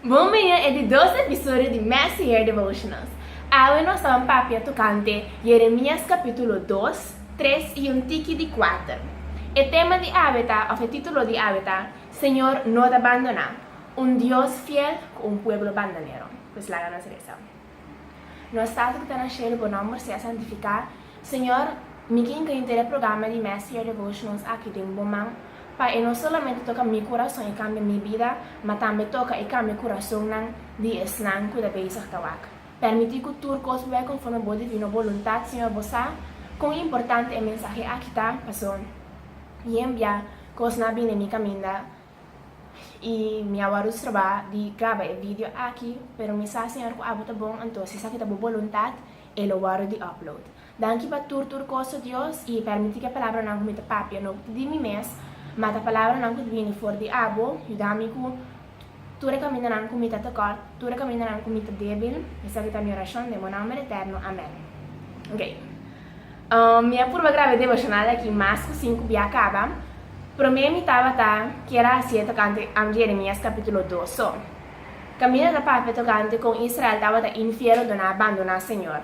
Bon miña e di dos episodio di Messier Devotionals. Awe nos taban papia tocante Jeremias capitulo dos, tres y un tiki di cuater. E tema di awe ta, of e titulo di awe ta, Señor no ta bandona, un Dios fiel cu un pueblo bandanero. Pues laga nos reza. Nos Tata ku ta na shelu, bo nòmber sea santifiká. Señor, mi kin ta inter e programa di Mass Year Devotionals aki den bo man, pa e no solamente toka mi kurason i kambia mi bida, ma tambe toka i kambia kurasonnan di esnan ku ta bezig ta wak. Permití ku tur kos por bai konforme bo divino boluntat, Señor. Bo sa kon importante e mensahe aki ta, pasobra Yen bia kosnan a bini mi kaminda. Y mi a worus trabá di graba e video aki, pero mi sa Señor cu abo ta bon, anto si esaki ta bo boluntad, e lo wordo di upload. Danki pa tur tur cos, oh Dios, y permití cu e palabranan cu mi ta papia no ta di mi mes, ma ta palabranan cu ta bini for di abo, yuda mi cu tur e camindanan cu mi ta tekort, tur e camindanan cu mi ta debil, esaki ta mi oracion den bo nomber eterno, amén. Ok. Mi a purba graba e devocional aki mas ku sinku bia kaba. Promé mi tabata kier a hasié tokante am Jeremias kapítulo dos so. Camila ta papia tokante kon Israel tabata infiel ora nan a bandoná Señor.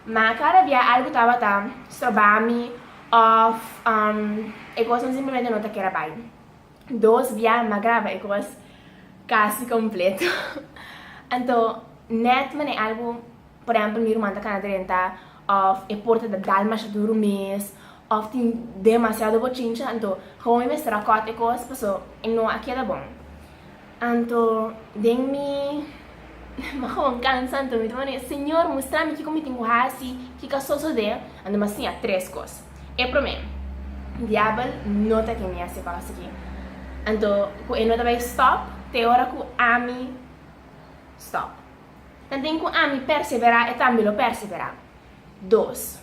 Ma kada bia algu tabata stroba mi òf e kosnan simplemente no ta kier a bai. Dos bia mi a graba e kos kasi kompleto. Anto nèt manera algu. Por ehempel mi ruman ta kana drenta of e porta ta dalmash duru mes of tin demasiado bochincha anto how mi mester a cut e cos paso e no a keda bon anto den mi mi a gewoon cansa anto mi ta word'e señor mustrami kico mi tin cu haci kico a sosode anto mi a siña tres cos e prome diabel no ta kende haci e cos aki anto cu e no ta bay stop te ora cu ami stop. Ta den ku ami perseverá, e tambe lo perseverá. Dos,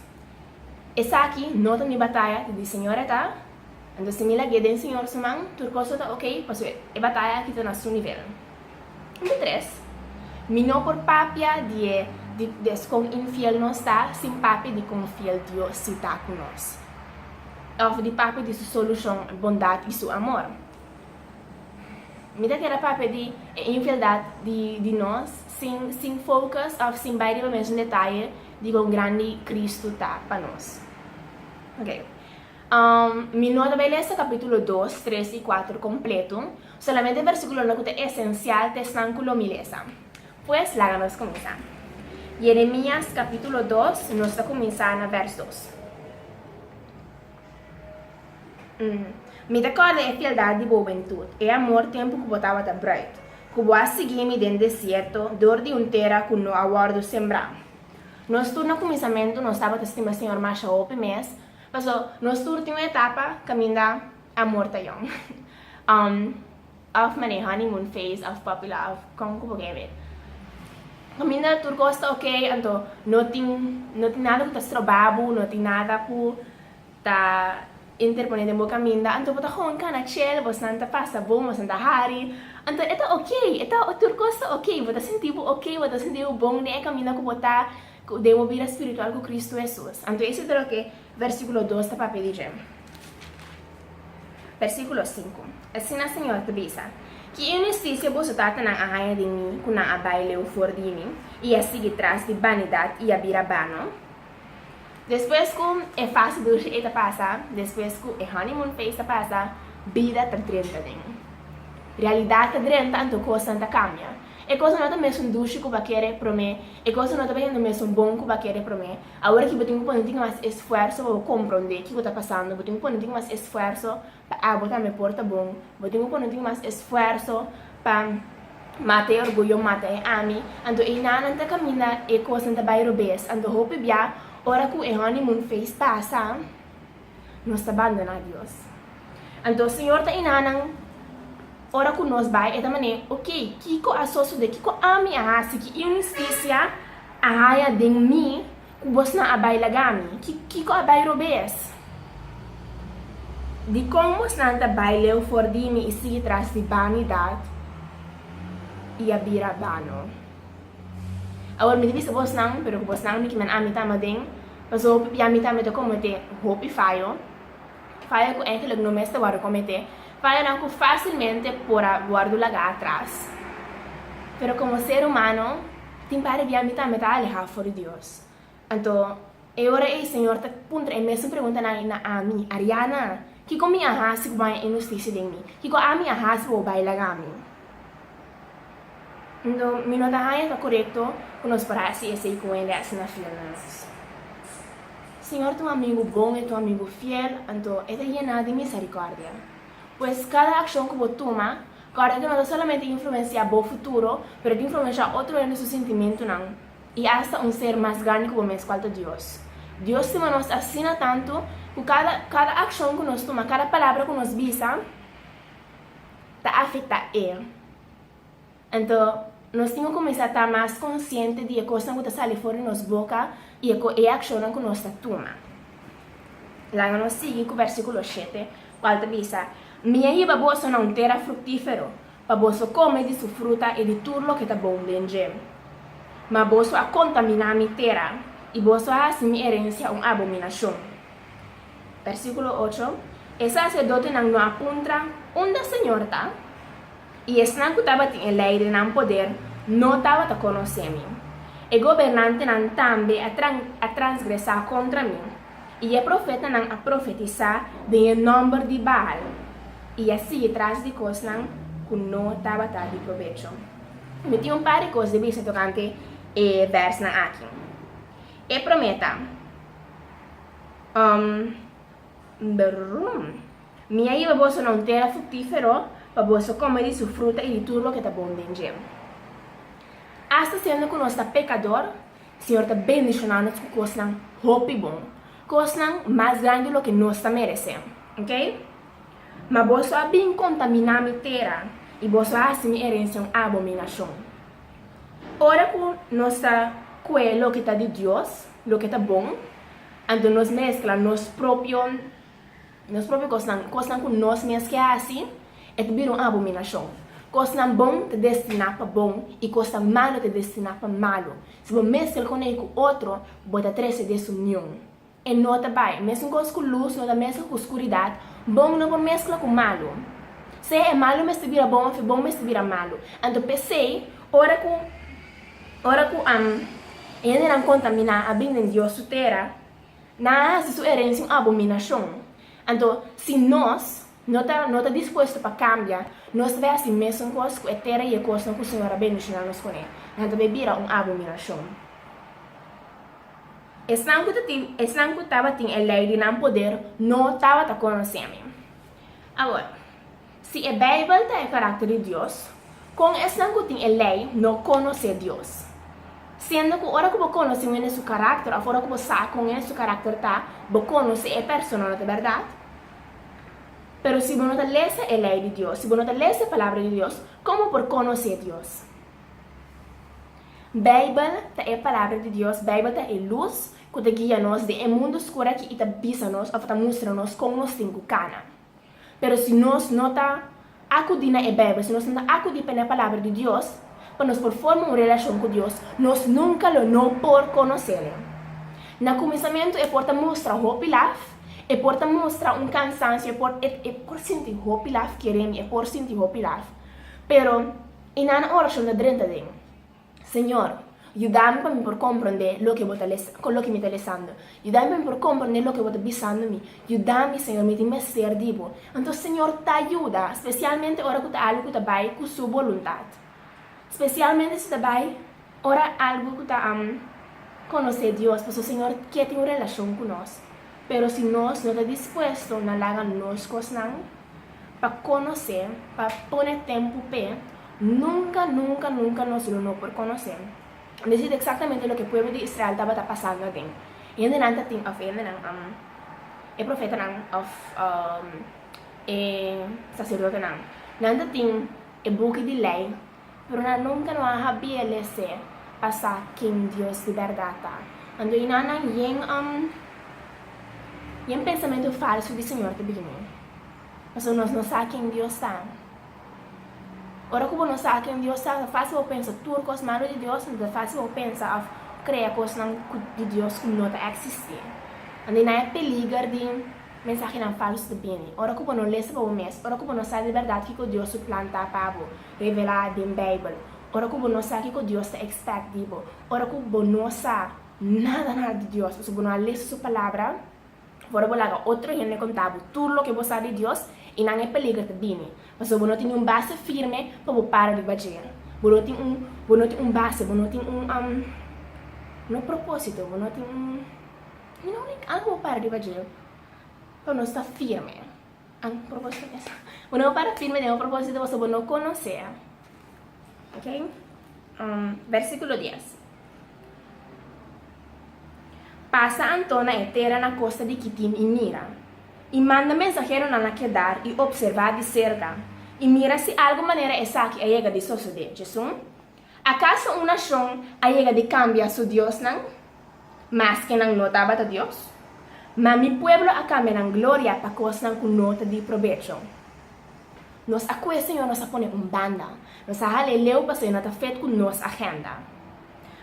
Esaki no ta mi bataya, ta di Señor e ta, anto si mi lag'é den Señor su man, tur kos lo ta okey, pasobra e bataya aki ta na su nivel. Punto tres, Mi no por papia di e di des kon infiel nos ta sin papia di kon fiel Dios si ta ku nos, òf di papia di su solushon, bondat i su amor. Mi ta keda papia di e infieldad di nos sin focus of sin bai riba mesun detaye di con grandi Cristo ta pa nos. Ok. Um, mi no ta bai lesa capítulo 2, 3 y 4 completo, solamente versiculonan cu ta esencial ta esnan cu lo mi lesa. Pues, laga nos cuminsa. Jeremias capítulo 2, nos ta cuminsa na vers 2. Mi ta kòrda e fieldat di bo wentut, e amor tempu ku bo tabata bruid, ku bo a sigui mi den desierto dor di un tera ku no a wòrdu sembrá. Nos tur na kuminsamentu nos tabata stima Señor masha hopi mes, pasobra nos tur tin un etapa kaminda amor ta yòn. Af mane honeymoon phase of popular of kon ku bo ke eb'e. Kaminda tur kos ta ok anto no tin no tin nada ku ta stroba bo no tin nada ku ta interpone den bo kaminda anto bo ta hon kana chel bosnan ta pasa bon bosnan ta hari anto e ta ok e ta tur kos ta ok bo ta sinti bo ok bo ta sinti bo bon den e kaminda ku bo ta den bo bida spiritual ku Kristu Hesus anto ese ta loke Versíkulo dos ta papia di dje. Versíkulo sinku, Asina Señor ta bisa, Ki inhustisia boso tatanan a haña di mi ku nan a bai leu for di mi, i a sigui tras di banidat i a bira bano? Despues ku e fase dulshi ei ta pasa, despues ku e honeymoon phase ta pasa, bida ta drenta den mi. Realidat ta drenta, anto kosnan ta kambia. E kosnan no ta mesun dulshi ku bo a kere promé, e kosnan no ta bihendo mesun bon ku bo a kere promé, Awor aki bo tin ku pone tin mas esfuerso pa bo komprondé kiko ta pasando, bo tin ku pone tin mas esfuerso pa abo tambe por ta bon, bo tin ku pone tin mas esfuerso pa mata e orguyo, mata e ami, anto eina nan ta kaminda e kosnan ta bai robes, anto hopi bia ora ku e honeymoon phase pasa, nos ta bandoná Dios. Anto Señor ta iná nan ora ku nos bai e ta man'é, ok, kiko a sosodé, kiko ami a hasi ki inhustisia a haña den mi ku bosnan a bai laga mi? Kiko a bai robé es? Dikon bosnan ta bai leu for di mi i sigui tras di banidat i a bira bano? Awor mi ta bisa bosnan, pero ku bosnan mi kiman ami ta ama den, pasobra p'abia mi tambe ta kometé hopi fayo, fayo ku engelik no mester wòrdu kometé, fayonan ku fásilmente por a wòrdu lagá atras. Pero komo ser humano, tin par'e di ami tambe ta alehá for di Dios. Anto, e ora ei Señor ta puntra e mesun preguntanan ei na ami, Ariana, Kiko mi a hasi ku bo a haya inhustisia den mi? Kiko ami a hasi pa bo bai laga mi? Anto, mi no ta haña ta korekto ku nos por hasi esei ku hende asina fiel na nos. Señor ta un amigu bon, e ta un amigu fiel, anto e ta yená di miserikòrdia. Pues, kada akshon ku bo tuma, kòrda ku no ta solamente influensiá bo futuro, pero ta influensiá otro hende su sintimentunan. I asta un ser mas grandi ku bo mes, kual ta Dios. Dios stima nos asina tantu ku kada kada akshon ku nos tuma, kada palabra ku nos bisa ta afektá e. Anto nos tin ku kuminsá ta mas konsiente di e kosnan ku ta sali for di nos boka i e e akshonnan ku nos ta tuma. Laga nos sigui ku vèrsikulo shete, kual ta bisa, Mi a yiba boso na un tera fruktífero, Pa boso come di su fruta i di tur loke ta bon den dje. Ma boso a contaminá mi tera, i boso a haci mi herencia un abominacion. Versículo ocho, E sacerdotenan no a puntra, Unda Señor ta? I esnan cu tabatin e ley den nan poder no tabata conocé mi. E gobernantenan tambe a transgresá contra mi. I e profetanan a profetisá den e nòmber di Baal i a sigui tras di kosnan ku no tabata di probecho. Mi tin un par di kos di bisa tokante e bèrsnan aki. E promé ta, Um, brum. Mi a yiba boso na un tera fruktífero pa boso kome di su fruta i di tur loke ta bon den dje. Asta siendo ku nos ta pekador, Señor ta bendiciona nos cu cosnan hopi bon, cosnan mas grandi loke nos ta merece, ok. Ma boso a bin contamina mi tera y boso a haci mi herencia un abominacion. Ora cu nos ta cue loke ta di Dios, loke ta bon, anto nos mezcla nos propio. Nos propio kosnan, kosnan ku nos mes ke hasi, e ta bira un abominashon. Kosnan bon ta destiná pa bon i kosnan malu ta destiná pa malu. Si bo meskel konei ku otro, bo ta trese desunion. E no ta bai. Mesunkoz ku lus no ta meskla ku skuridat, bon no por meskla ku malu. Sea e malu mester bira bon òf e bon mester bira malu. Anto p'esei, ora ku ora ku e hendenan kontaminá a bin den Dios su tera, Na hasi su erensia un abominashon. Anto, si nos no ta no ta dispuesto pa kambia, nos ta bay hasi mesun kos ku e tera i e kosnan ku Señor a bendishona nos kuné, nan ta bay bira un abominashon. Esnan ku ta tin esnan ku tabatin e lei di nan poder no tabata konosemi. Awor, Si e Beibel ta e karakter di Dios, kon esnan ku tin e Lei no konosé Dios? Siendo ku ora ku bo konosé un hende su karakter òf ora ku bo sa kon hende su karakter ta, bo konosé e persona, no ta bèrdat? Pero si bo no ta lesa e Lei di Dios, si bo no ta lesa e Palabra di Dios, kon bo por konosé Dios? Beibel ta e Palabra di Dios, Beibel ta e lus ku ta guia nos den e mundu skur aki i ta bisa nos òf ta mustra nos kon nos tin ku kana. Pero si nos no ta akudí na e Beibel, si nos no ta akudí pa na Palabra di Dios pa nos por forma un relashon ku Dios, nos nunka lo no por konosé nan. Na kuminsamentu e por ta mustra hopi laf, e por ta mustra un kansansio, e por e por sinti hopi laf, keré mi, e por sinti hopi laf. Pero i nan orashon ta drenta den. Señor, yudámi pa mi por komprondé loke Bo ta lesa, kon loke mi ta lesando. Yudámi pa mi por komprondé loke Bo ta bisando mi. Yudámi, Señor, mi tin mester di Bo. Anto, Señor, ta yuda, spesialmente ora ku ta algu ku ta bai ku Su boluntat. Spesialmente si ta bai ora algu ku ta konosé Dios, pasobra Señor ke tin un relashon ku nos. Pero si nos no ta dispuesto na laga nos kosnan. pa conoce, pa pone tempo p'e, nunca, nunca, nunca nos lo no por conoce. Dis es exactamente loke pueblo di Israel tabata pasando aden. E hendenan ta tin, of e hendenan, am, e profetanan of e sacerdotenan, nan ta tin e buki di ley, Pero nan nunka no a habié lese pa sa ken Dios di bèrdat ta. Anto i nan na yen yen pensamentu falsu di Señor ta bini. Pasobra nos no sa ken Dios ta. Ora ku bo no sa ken Dios ta, ta fásil pa bo pensa tur kos malu di Dios, anto ta fásil pa bo pensa òf krea kosnan di Dios ku no ta eksistí. Anto i nan e peliger di mensahenan falsu ta bini. Ora ku bo no lese pa bo mes, ora ku bo no sa di bèrdat kiko Dios su plan ta pa bo, revelá den Beibel, ora ku bo no sa kiko Dios ta ekspèkt di bo, ora ku bo no sa nada nada di Dios pasobra bo no a lesa Su Palabra, afora bo laga otro hende kontá bo tur loke bo sa di Dios, i nan e peliger ta bini, pasobra bo no tin niun base firme pa bo para riba dje. Bo no tin un, bo no tin un base, bo no tin un, am, no propósito, bo no tin un, you know, like algu pa bo para riba dje pa no sta firme. Un propósito mes. Bo no para firme den un propósito pasobra bo no konosé. Oke? Versíkulo dies. Pasa anto na e tera na kosta di Kitim i mira, i manda mensaheronan na kedar i opservá di serka, i mira si algun manera esaki a yega di sosodé. Djesun Akaso un nashon a yega di kambia su diosnan, maske nan no tabata Dios? Ma mi pueblo a kambia nan gloria pa kosnan ku no ta di probecho. Nos a kue señor nos a pone un banda, nos a hala e leu pasobra e no ta fet ku nos agenda.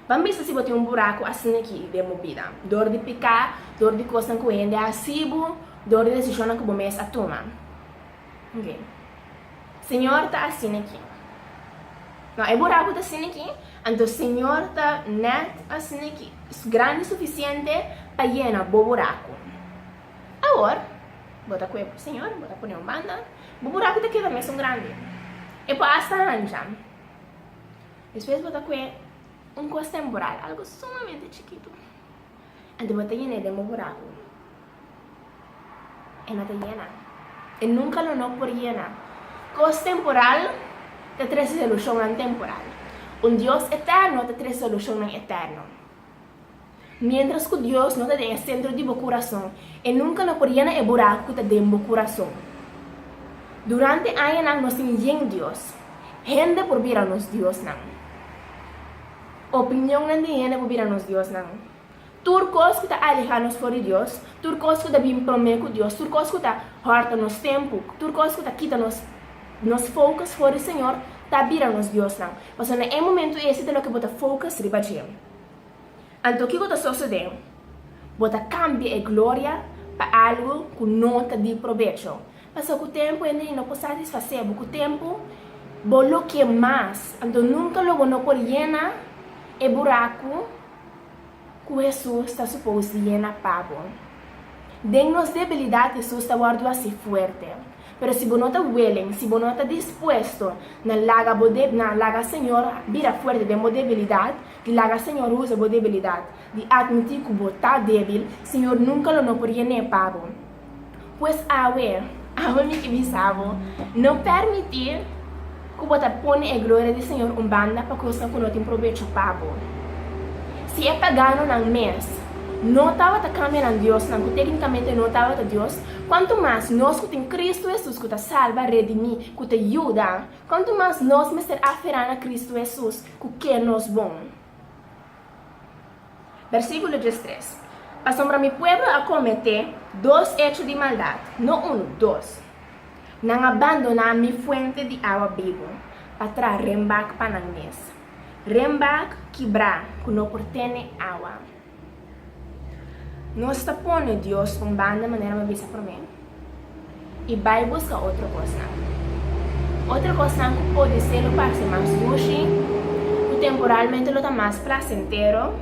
Ban bisa si bo tin un buraku asin'aki den bo bida, dor di piká, dor di kosnan ku hende a hasi bo, dor di desishonnan ku bo mes a tuma. Oke. Señor ta asina aki. No, e bura ku ta asina aki, anto Señor ta nèt asina aki, grandi sufisiente pa yena bo buraku. Awor, bo ta kuepo, Señor, bo ta pone un banda, bo buraku ta keda mesun grandi. E por asta hancha. Despues bo ta kue un kos temporal, algu sumamente chikitu. Anto bo ta yena e den bo buraku? E no ta yena. E nunka lo no por yena. Kos temporal ta trese solushonnan temporal. Un Dios eterno ta trese solushonnan eterno. Miéntras ku Dios no ta den e sentro di bo kurason, e nunka no por yena e buraku ku ta den bo kurason. Durante añanan nos tin yen dios. Hende por bira nos diosnan. Opinionnan di hende por bira nos diosnan. Tur kos ku ta alehá nos for di Dios, tur kos ku ta bin promé ku Dios, tur kos ku ta hòrta nos tempu, tur kos ku ta kita nos nos focus for di Señor, ta bira nos diosnan. Pasobra na e momentu ese ta loke bo ta focus riba dje. Anto kiko ta sosodé? Bo ta kambia e gloria pa algu ku no ta di probecho. Pasa ku tempu hende y no por satisfacé bo. Ku tempu bo lo ke mas. Anto nunca lo bo no por yena e buraku ku Hesus ta supos di yena pa bo. Den nos debilidad Hesus ta wordu haci fuerte. Pero si bo no ta willing, si bo no ta dispuesto na laga bo na laga Señor bira fuerte den bo debilidad, di laga Señor usa bo debilidad, di admiti ku bo ta debil, Señor nunca lo no por yené pa bo. Pues awe, awe mi ke bisa bo, no permití ku bo ta pone e gloria di Señor un banda pa kosnan ku no tin probecho pa bo. Si e paganonan mes no tabata kambianan diosnan ku téknikamente no tabata dios, kuantu mas nos ku tin Kristu Hesus ku ta salba, redimí, ku ta yuda, kuantu mas nos mester aferá na Kristu Hesus ku ke nos bon. Bersíkulo tres tres, Pasobra mi pueblo a kometé dos echo di maldat, no unu, dos, nan a bandoná mi fuente di awa bibu pa traha renbak pa nan mes, renbak kibrá ku no por tene awa. Nos ta pone Dios un banda manera mi a bisa promé i bai buska otro kosnan. Otro kosnan ku podisé lo parse mas dushi, ku temporalmente lo ta mas plasentero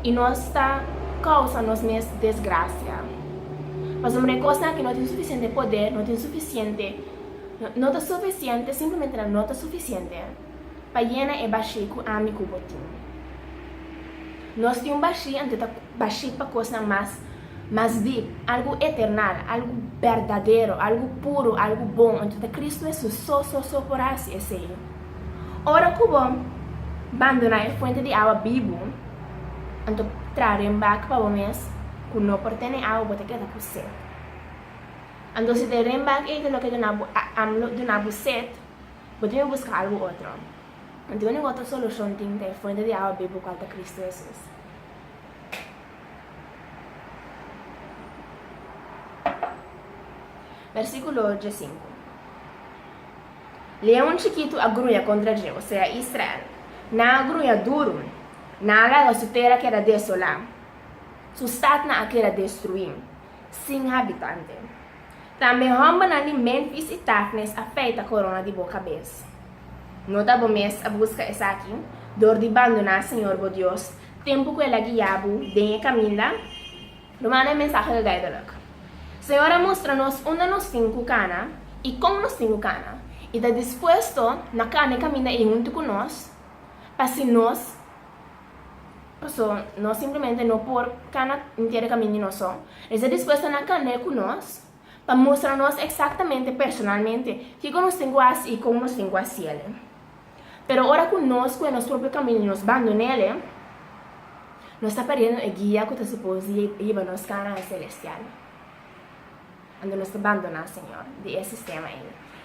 i nos ta kousa nos mes desgrasia. Pasobra e kosnan aki no tin sufisiente poder, no tin sufisiente, no ta sufisiente, simplemente nan no ta sufisiente. pa yena e bashí ku ami ku bo tin. Nos tin un bashí anto ta bashí pa kosnan mas mas dip, algu eternal, algu berdadero, algu puru, algu bon, anto ta Kristu Hesus so so so por hasi esei. Ora ku bo bandoná e fuente di awa bibu, anto traha den bak pa bo mes ku no por tene awa, bo ta keda ku set. Anto si ta e den bak ei ku no ke duna bo, a, am lo duna bo set, Bo debe buska algu otro. No tin onin otro solushon tin ta e Fuente di Awa Bibu kual ta Kristu Hesus. Versíkulo diesinku. Leon chikitu a gruña kontra dje, osea Israel. Nan a gruña duru, nan a laga su tera keda desolá, su statnan a keda destruí, sin habitante. Tambe hòmbernan di Memphis i Tafnes a feita korona di bo kabes. No ta bo mes a buska esaki dor di bandoná Señor bo Dios tempu ku El a guia bo den e kaminda? Lo manda e mensahe gagaidonak. Señor a mustra nos unda nos tin ku kana i kon nos tin ku kana i ta dispuesto na kana e kaminda ei huntu ku nos pa si nos Paso, nos simplemente no por kana inter e kaminda nos son. E ta dispues ta na kandé ku nos pa mustra nos eksaktamente personalmente kiko nos tin ku hasi i kon nos tin ku hasi el. Pero ora ku nos ku e nos propio kaminda nos bandoná el, nos ta perdiendo e guia ku ta supos di yeba nos kana celestial. Ando nos ta bandoná Señor di e sistema ei.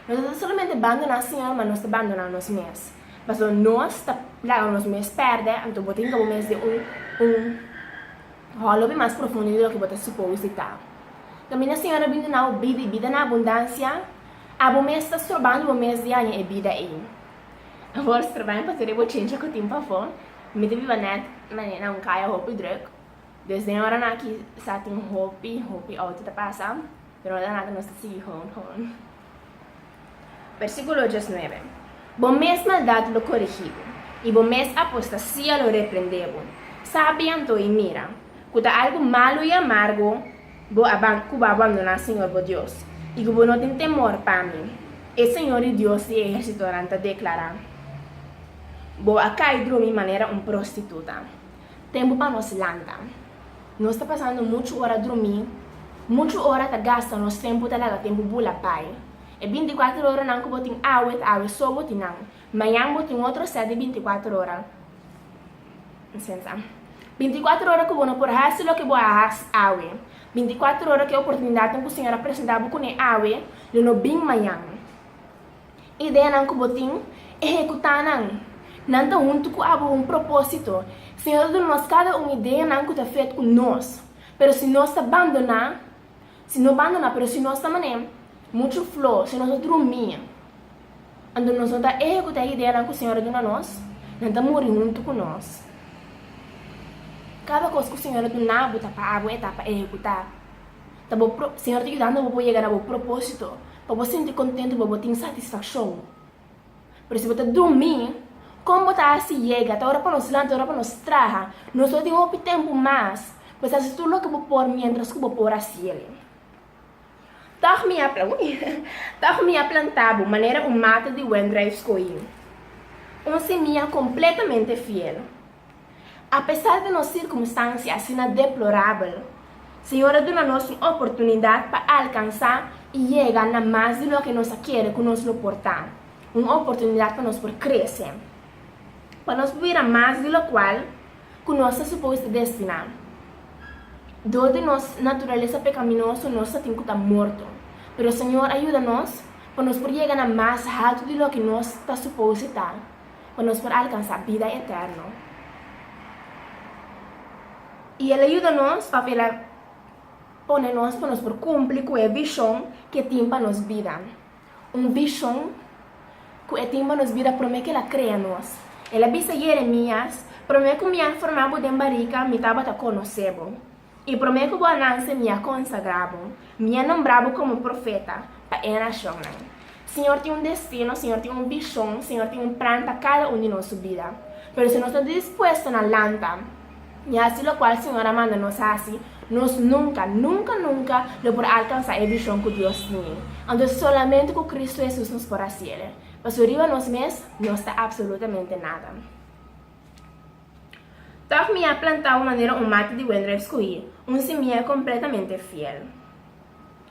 Nos no ta solamente bandoná Señor, ma nos ta bandoná nos mes. Pasobra nos ta laga nos mes pèrdè, anto bo tin ka bo mes den un un hòlopi mas profundo di loke bo ta supos di ta. Kaminda Señor a bin duna bo bida i bida na abundansia, abo mes ta stroban bo mes di haña e bida ei. Awor stroban pasobra e bochincha ku tin pafó, mi ta biba nèt na un kaya hopi drùk. Desde e oranan aki sa tin hopi hopi outi ta pasa, pero no ta nada nos ta sigui gewoon gewoon. Versículo dieznuebe. Bo mes maldad lo corigi bo, y bo mes apostasia lo reprende bo. Sabi anto y mira, cu ta algo malo y amargo bo a ban cu bo a bandona Señor bo Dios, y cu bo no tin temor pa mi, e Señor di Dios di e ehersitonan ta declara, Bo a cai dromi manera un prostituta. Tempu pa nos lanta. Nos ta pasando muchu ora drumí, muchu ora ta gasta nos tempu ta laga tempu bula bai. E binti kuater oranan ku bo tin awe ta awe so bo tin nan. Mañan bo tin otro sèt di binti kuater ora. Sensa. Binti kuater ora ku bo no por hasi loke bo a hasi awe. Binti kuater ora ku e oportunidatnan ku Señor a presentá bo kuné awe lo no bin mañan. ideanan ku bo tin, ehekutá nan. Nan ta huntu ku abo un propósito. Señor ta duna nos kada un ideanan ku ta fet ku nos, pero si nos ta bandoná, si no bandoná, pero si nos ta man'é muchu fló, si nos ta drumí, anto nos no ta ehekutá e ideanan ku Señor a duna nos, nan ta muri huntu ku nos. Kada kos ku Señor a dunabo ta pa abo e ta pa ehekutá. Ta bo pro, Señor ta yudando bo pa bo yega na bo propósito, pa bo sinti contento, pa bo tin satisfaccion. Pero si bo ta dumi, con bo ta haci yega? Ta ora pa nos lanta, ta ora pa nos traha. Nos lo tin hopi tempo mas, pues haci tur loke bo por mientras cu bo por haciel. Tog mi a, ui, tog mi a planta bo manera un mata di wen druif scogi, un simia completamente fiel. Apesar di nos sirkunstansia asina deplorabel, Señor a duna nos un oportunidat pa alkansá i yega na mas di loke nos a kere ku nos lo por ta, un oportunidat pa nos por krese, pa nos por bira mas di lokual ku nos ta supos ta destiná. Dor di nos naturalesa pekaminoso nos ta tin ku ta morto, pero Señor a yuda nos pa nos por yega na mas haltu di loke nos ta supos ta. pa nos por alkansá bida eterno. I el a yuda nos p'ap el a pone nos pa nos por kumpli ku e bishon ku e tin pa nos bida. Un bishon ku e tin pa nos bida promé ku el a krea nos. El a bisa Yeremías, Promé ku mi a formá bo den barika, mi tabata konosé bo. I promé ku bo a nanse mi a konsagrá bo, mi a nombrá bo komo profeta pa e nashonnan. Señor tin un destino, Señor tin un bishon, Señor tin un plan pa kada un di nos su bida. Pero si nos no ta dispuesto na lanta i hasi lokual Señor a manda nos hasi, nos nunka, nunka, nunka lo por alkansá e bishon ku Dios tini. Anto solamente ku Kristu Hesus nos por hasi el'e. Pasobra riba nos mes nos ta apsolutamente nada. Tòg mi a plantau manera un mati di wendref skuí, un simia kompletamente fiel.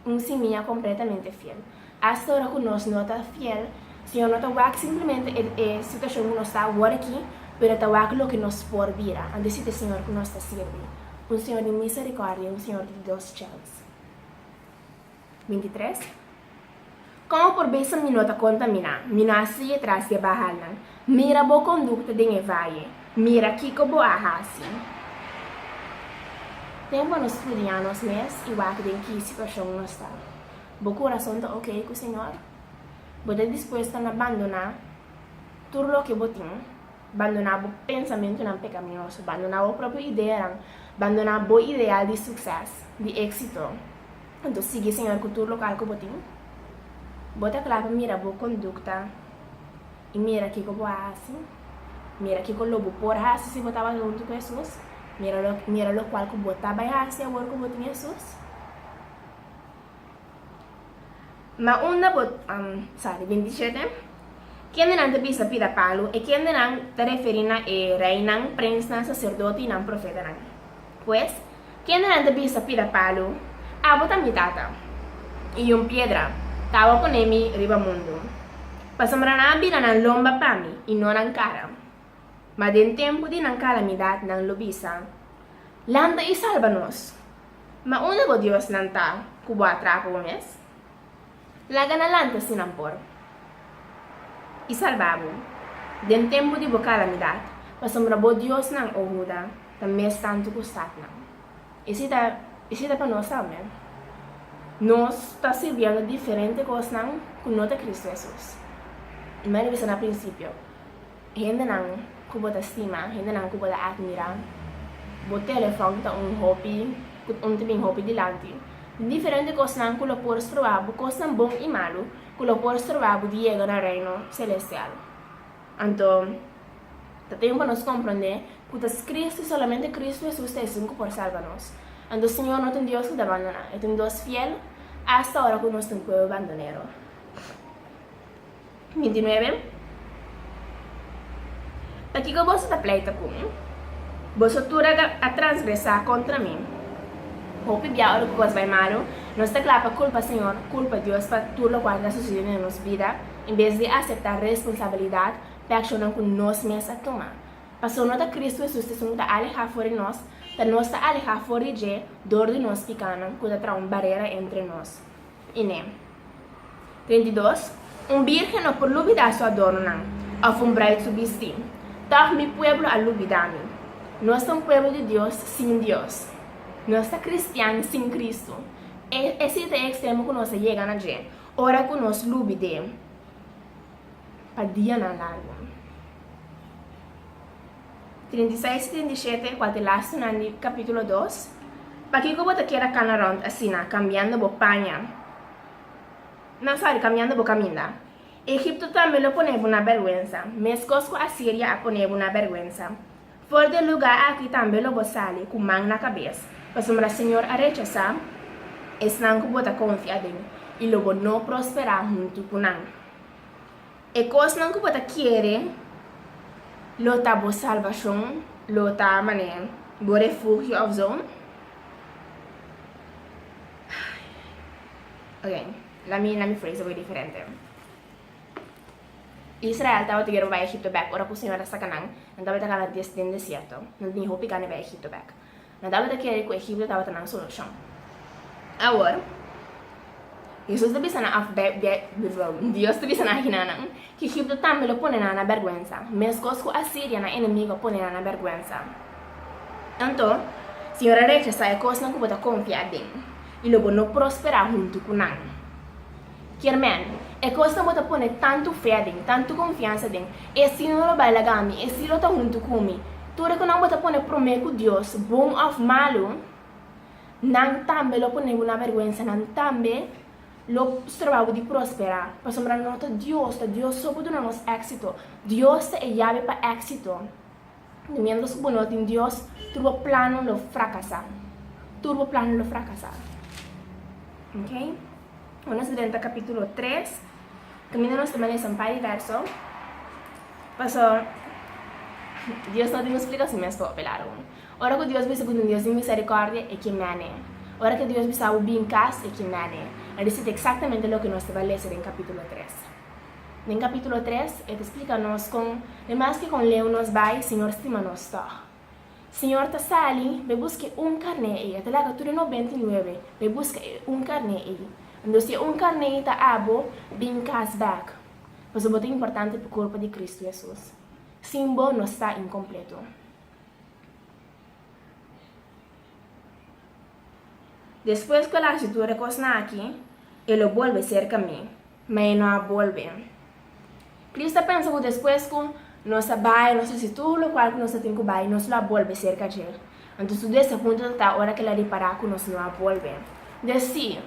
Un simia kompletamente fiel. Asta ora ku nos no ta fiel, Señor no ta wak simplemente e situashon ku nos ta awor aki, pero e ta wak loke nos por bira, anto si ta e Señor ku nos ta sirbi, un Señor di miserikòrdia, un Señor di dos chèns. 23, Kon por bisa mi no ta kontaminá? Mira hasi e tras di e bahalnan, mira bo kondukta den e vaye, mira kiko bo a hasi. Tempu nos studiá nos mes i wak den ki situashon nos ta. Bo kurason ta oke ku Señor? Bo ta dispuesto na bandoná tur loke bo tin? Bandoná bo pensamentunan pekaminoso. Bandoná bo propio ideanan. Bandoná bo ideal di sukses, di éksito. Anto sigui Señor ku tur lokal ku bo tin. Bo ta kla pa mira bo kondukta i mira kiko bo a hasi. Mira kiko lo bo por hasi si bo tabata huntu ku Hesus. Mira lo mira lokual ku bo ta bai hasi awor ku bo tin Hesus. Ma unda bo sa di binti shete? Kendenan ta bisa pida palu? E kendenan ta referí na e reinan, prensnan, saserdote i nan profetanan. Pues, kendenan ta bisa pida palu, Abo ta mi Tata, i un piedra ta awa poné mi riba mundu, pasobra nan a bira nan lomba pa mi i no nan kara. Ma den tempu di nan kalamidat nan lo bisa, Lanta i salba nos! Ma unda bo diosnan ta ku bo a traka bo mes? Laga nan lanta si nan por i salba bo den tempu di bo kalamidat, pasobra bo diosnan o huda ta mes tantu ku statnan. Esei ta esei ta pa nos tambe. Nos ta sirbiendo diferente kosnan ku no ta Kristu Hesus. I m'a revisa na prinsipio. Hendenan ku bo ta stima, hendenan ku bo ta atmirá. Bo telefòn ta un hopi ku un ta bin hopi dilanti. Diferente kosnan ku lo por stroba bo, kosnan bon i malu ku lo por stroba bo di yega na Reino selestial. Anto, ta tempu pa nos komprondé ku ta skris ku solamente Kristu Hesus ta esun ku por salba nos. Anto Señor no ta un Dios ku ta bandoná. E ta un Dios fiel, asta ora ku nos ta un puebel bandonero. Binti nuebe, Pa kiko boso ta pleita ku mi? Boso tur a a transgresá kontra mi. Hopi bia ora ku kos bai malu, nos ta kla pa kulpa Señor, kulpa Dios pa tur lokual ta susidí den nos bida, en bes di aseptá responsabilidat p'e akshonnan ku nos mes a tuma. Pasobra no ta Kristu Hesus ta esun ku ta alehá for di nos, ta nos ta alehá for di dje dor di nos pikánan ku ta traha un barera entre nos. Ine. Trenta i dos, Un bírgen no por lubidá su adornonan, òf un braid su bistí. Tòg mi pueblo a lubidá mi. Nos ta un pueblo di Dios sin Dios. Nos ta kristian sin Kristu. E e si ta e ekstremo ku nos a yega na dje, ora ku nos lubid'é pa dianan largu. Treinta i seis i treinta i shete, kua ta e lastenan di kapítulo dos, Pakiko bo ta keda kana rònt asina, kambiando bo paña? No, sòri, kambiando bo kaminda. Egipto tambe lo pone bo na bèrgwensa, meskos ku Asiria a pone bo na bèrgwensa. For di e lugá aki tambe lo bo sali ku man na kabes, pasobra Señor a rechasá esnan ku bo ta konfia den, i lo bo no prosperá huntu ku nan. E kosnan ku bo ta kere lo ta bo salbashon, lo ta mane bo refugio òf zo. Oke, na mi na mi frase a bai diferente. Israel tabata bier pa bai Egipto bèk, ora ku Señor a saka nan, nan tabata garantias den desierto, nan tin hopi gana bai Egipto bèk. Nan tabata kere ku Egipto tabata nan solushon. Awor, Hesus ta bisa nan, Dios ta bisa nan aki na nan, ku Egipto tambe lo pone nan na bèrgwensa, meskos ku Asiria, nan enemigu, a pone nan na bèrgwensa. Anto, Señor a rechasá e kosnan ku bo ta konfiá den, i lo bo no prosperá huntu ku nan. Kermèn, E kosnan bo ta pone tantu fé aden, tantu konfiansa aden, e si no lo bai laga mi, e si lo ta huntu ku mi. Tur e konan bo ta pone promé ku Dios, bon òf malu, nan tambe lo pone bo na bèrgwensa, nan tambe lo stroba bo di prosperá. Pasobra no ta Dios, ta Dios so ku duna nos éksito. Dios ta e yabe pa éksito. Di miembros ku no tin Dios, tur bo plannan lo frakasá. Tur bo plannan lo frakasá. Ok? Ora nos drenta kapítulo tres, kaminda nos ta bini lesa un par di vèrso, paso Dios no tin un splikashon mes pa ope lado un. Ora ku Dios bisa ku tin Dios di miserikòrdia, e ke mene. Ora ku Dios bisa bo bin kas, e ke mene. E di siti eksaktamente loke nos tabata lesa den kapítulo tres. Den capítulo tres e ta splica nos con e maske con leu nos bay Señor stima nos tog. Señor ta sali bay busca e un carné ey, e ta laga tur e nobenta y nuebe bay busca e un carné ey. Ando si e un carné ey ta abo, bin cas bek, pasobra bo ta importante pa Corpo di Cristo Jesus. Sin bo nos ta incompleto. Despues cu e laci tur e cos naki, e lo bolbe cerca mi. Ma e no a bolbe. Chris ta pensa cu despues cu nos a bay, nos haci tur locual cu nos a tin cu bay, nos lo a bolbe cerca djel. Anto su des a punto ta ta ora que el a ripara cu nos no a bolbe. Dje si,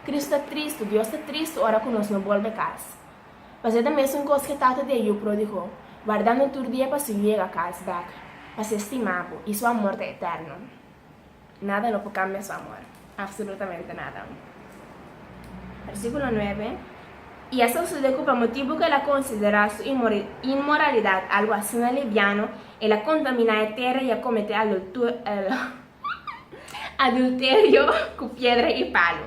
Chris ta tristu, Dios ta tristu ora cu nos no bolbe cas. Pas'e ta mesun cos que tata di e yu prodigo, wardando tur dia pa su yega cas bek, pa ser stima bo, y su amor ta eterno. Nada no por cambia su amor, absolutamente nada. Versiculo nuebe, Y esta sucede cu pa motibo cu el a considera su inmoralidad algo asina libiano, el a contamina e tera y a comete adulterio cu piedra y palu.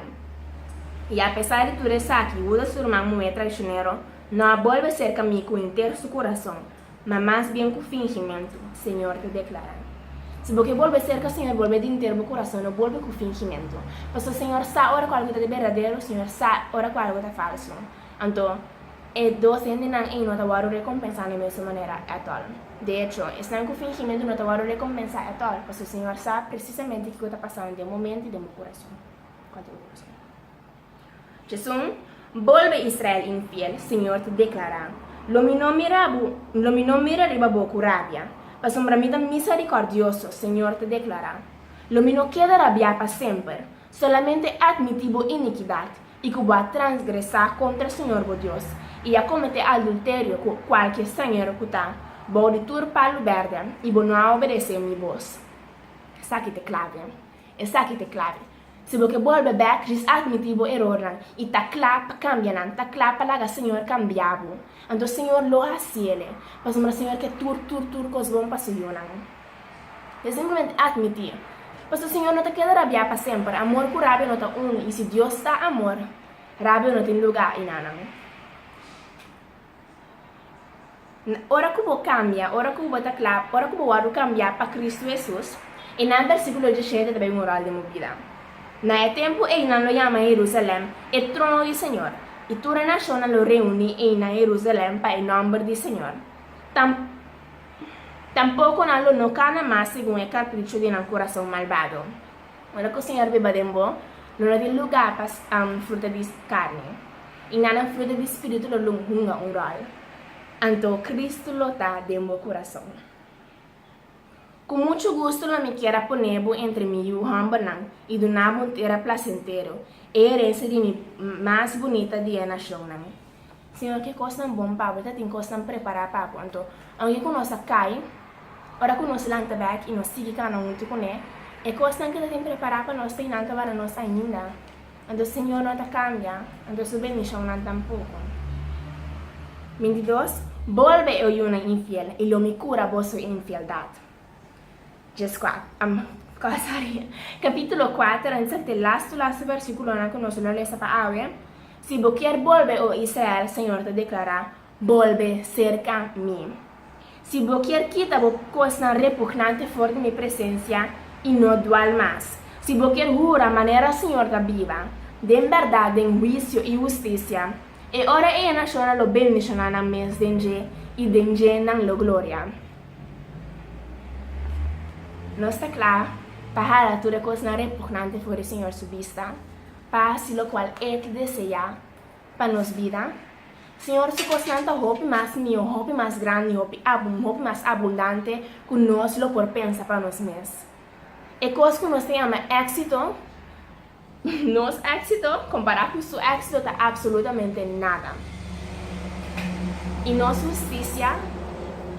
Y apesar di tur esaki, Judas, su ruman muhe traicionero, no a bolbe cerca mi cu henter su curazon. Ma mas bien cu fingimentu, Señor ta declara. Si bo ke bolbe cerca Señor, bolbe dinter bo corazon, no bolbe cu fingimentu. Pasobra Señor sa ora cu algu ta de berdadero, Señor sa ora cu algu ta falsu. Anto, e dos hendenan ey no ta wòrdu recompensa na e mesun manera atol. De hecho, esnan cu fingimentu no ta wòrdu recompensa atol, pasobra Señor sa precisamente kico ta pasa den bo mente y den bo corazon. Djesun, Bolbe Israel infiel, siñor ta deklará, Lo mi no mira bo, lo mi no mira riba bo ku rabia, pasobra mi ta misarikòrdioso, siñor ta deklará. Lo mi no keda rabiá pa semper, solamente atmití bo inikidat i ku bo a transgresá kontra siñor bo Dios i a kometé aldulterio ku kualke stranhero ku ta bou di tur palu bèrdè i bo no a obedesé mi bos. Esaki ta klave. Esaki t'e clave. Si bo ke bolbe bek, ris admiti bo erornan i ta cla pa cambia nan, ta cla pa laga Señor cambia bo. Anto Señor lo haci ele, pasobra Señor ke tur tur tur cos bon pa su yunan. Bo simplemente admiti. Paso Señor no ta keda rabia pa semper, amor cu rabia no ta uno i si Dios ta amor, rabia no tin lugar i na nan. Ora ku bo kambia, ora ku bo ta kla, ora ku bo wòrdu kambiá pa Kristu Hesus, e nan bèrsikulo djisente ta tabata un ròl den bo bida. Na e tempu ei nan lo yama Herusalen e trono di Señor, i tur e nashonnan lo reuní einan Herusalen pa e nòmber di Señor. Tam, tampoko nan lo no kana mas segun e karpricho di nan kurason malbado. Ora ku Señor biba den bo, lo no tin lugá pa fruta di karni, i nanan fruta di Spiritu lo lo hunga un ròl. Anto Kristu lo ta den bo kurason. Ku muchu gustu lo mi kier a pone bo entre mi yu hòmbernan i duna bo un tera plasentero, e herensia di mi mas bunita di e nashonnan. Siñor, ki kosnan bon pa bo? E ta tin kosnan prepará pa bo. Anto, aunke ku nos a kai, ora ku nos lanta bèk i nos sigui kana huntu kuné, e kosnan ku e ta tin prepará pa nos ta inanta wak na nos ainda. Anto, Siñor, no ta kambia, anto su bendishonnan tampoko. Bintidos, Bo al bai e oyunan infiel, i lo mi kura boso infieldad. Djes kuater, am, kos ari. Kapítulo kuater, ensek t'e las to las versíkulonan ku nos lo lesa pa awe, Si bo kier bolbe, o Israel, Señor ta deklará, bolbe serka Mi. Si bo kier kita bo kosnan repugnante for di Mi presensia i no dual mas, si bo kier hura manera Señor ta biba, den bèrdat, den huisio i hustisia, e ora ei e nashonnan lo bendishoná nan mes den dje i den dje nan lo gloria. Nos ta kla pa hala tur e kosnan repugnante for di Señor su bista, pa hasi lokual E ta deseá pa nos bida. Señor su kosnan ta hopi mas mihó, hopi mas grandi, hopi mas abundante ku nos lo por pensa pa nos mes. E kos ku nos ta yama éksito Nos éxito compará cu su éxito ta absolutamente nada. I nos husticia,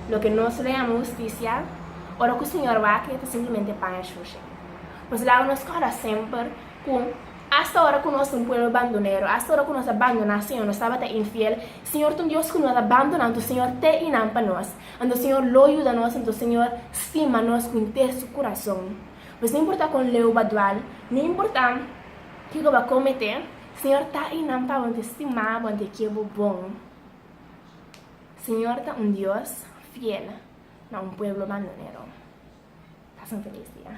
loke nos lo yama husticia, ora cu Señor Wake ta simplemente paña shushi. Nos laga nos corda semper cu hasta ora cu nos ta un pueblo bandonero, hasta ora cu nos a bandoná Señor, nos tabata infiel, Señor ta un Dios cu no ta bandona, anto Señor te i nan pa nos, anto Señor lo yuda nos, anto Señor stima nos cu henter su curason. Pues no importa con leu ba dual, no importa kico ba comete, Señor ta eynan pa bo ante stima bo ante ke bo bon. Señor ta un Dios fiel na un pueblo banonero. Pasen feliz dia.